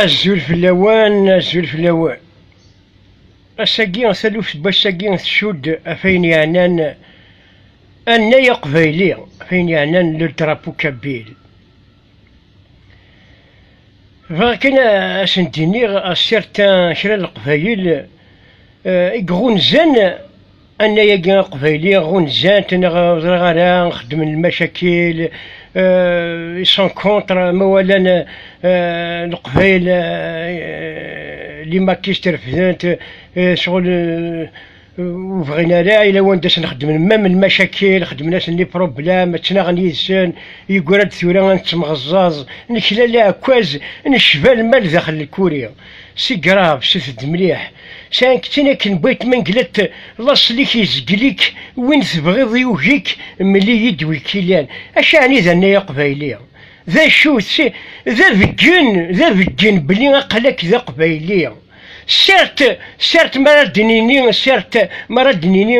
Azul fell-awen, azul fell-awen. Ass-agi, taluft n wass-agi tcudd ɣef ayen yeɛnan annay aqbayli, ɣef ayen yeɛnan le drapeau kabyle. Bɣiɣ kan ad sen-d-iniɣ a certains kra n leqbayel i iɣunzan Anay-agi aqbayli ɣunzan-t neɣ ur ẓriɣ ara xeddmen lmacakil ils sont contre ma walan leqbayel les maquistes refdent sɣel ur bɣin ara yella wanda sen xeddmen mam lmacakil xeddmen-asen les problèmes ttnaɣen yid-sen yeggra-d tura ad nettemɣeẓẓaẓ nekla leɛkaz necba lmal daxel lkuri Si grave, sit-d mliḥ. Sɛan ktin akken bait manglet laṣel-ik izgel-ik win tebɣiḍ yugi-k mel-iyi-d wi k-ilan. Acu ɛni d annay aqbayli? D acu? D abeggen, d abeggen belli aqal-ak d aqbayli. Certes, certes m'ara d-nini, certes m'ara d-nini,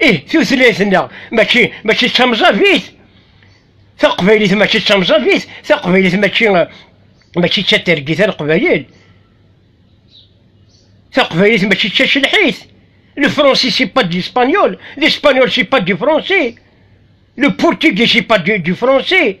ih tutlayt-nneɣ mačči mačči d tamẓabit taqbaylit mačči d tamẓabit taqbaylit mačči mačči d tatergit aqbayil taqbaylit mačči d tacelḥit le français c'est pas de l'espagnol l'espagnol c'est pas du français le portugais c'est pas du, du français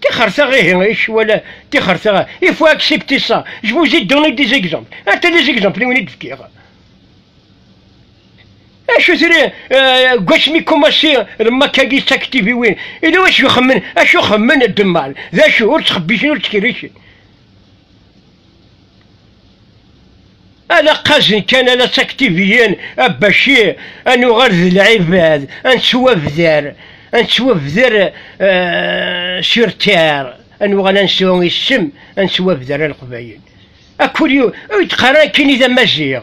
Tixer taɣ ihi i cwala tixer taɣ il faut accepter ça je vous ai donné des exemples ata des exemples i wen i d-fkiɣ acu tiri gwassmi kumassi lmakagi d taktiviwin ila wacu ixemmen acu xemmen ddemmal d acu ur ttxebbicen ur ttkerricen Ala qqazen kan ala ţaktiviyin a Baci a nuɣal d lɛibad, a neţwabder, a neţwabder sur terre, a nuɣal a nesɛu isem, a neţwabder a Leqbayel. Akuli ur d-qqar ara nekkini d Amaziɣ,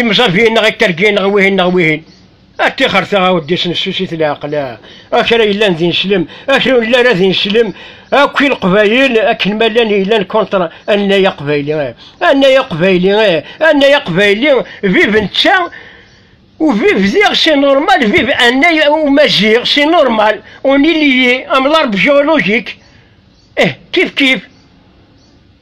Imẓabiyen neɣ ikergiyen neɣ wihin neɣ wihin. A tixer taɣawdis n susit leɛqel, a kra yellan d ineslem, a kra ur yelli ara d ineslem, akk i leqbayel akken ma llan yellan kontra annay aqbayli, annay aqbayli, annay aqbayli, viv netta, ou viv diɣ c'est normal, viv annay umaziɣ c'est normal, on est lié, am l'arbre géologique, eh kif kif.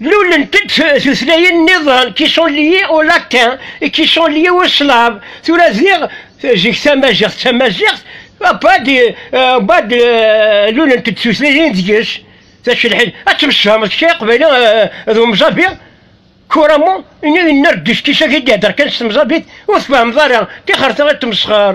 Mlulent-d tutlayin nniḍen, qui sont liées au latin et qui sont liées au slave. Tura diɣ, zik tamaziɣt d tamaziɣt, abad, abad lulent-d tutlayin deg-s. D acu lḥil, ad temsefhameḍ kra iqbayli d umẓabi? Kuramu, ini yenna-d d uskis-agi d-ihedder kan s temẓabit, ur tfehmeḍ ara, tixret ara d temsexer.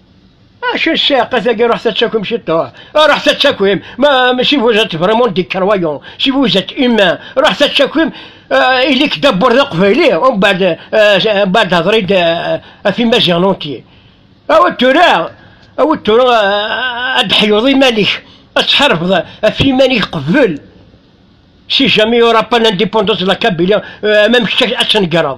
Acu ssaqa tagi ruḥ tattakim ciṭuḥ, ruḥ tattakim, ma si vous êtes vraiment des croyants, si vous êtes humain, ruḥ tattakim, ili-k d abur d aqbayli, umbeɛd umbeɛd hder-id ɣef imaziɣen unti. Awi tura, awi tura ad d-ḥyuḍ iman-ik, ad tḥarbeḍ ɣef iman-ik qbel. Si jamais il n'y aura pas d'indépendance de la Kabylie, même kečč ad tnegreḍ.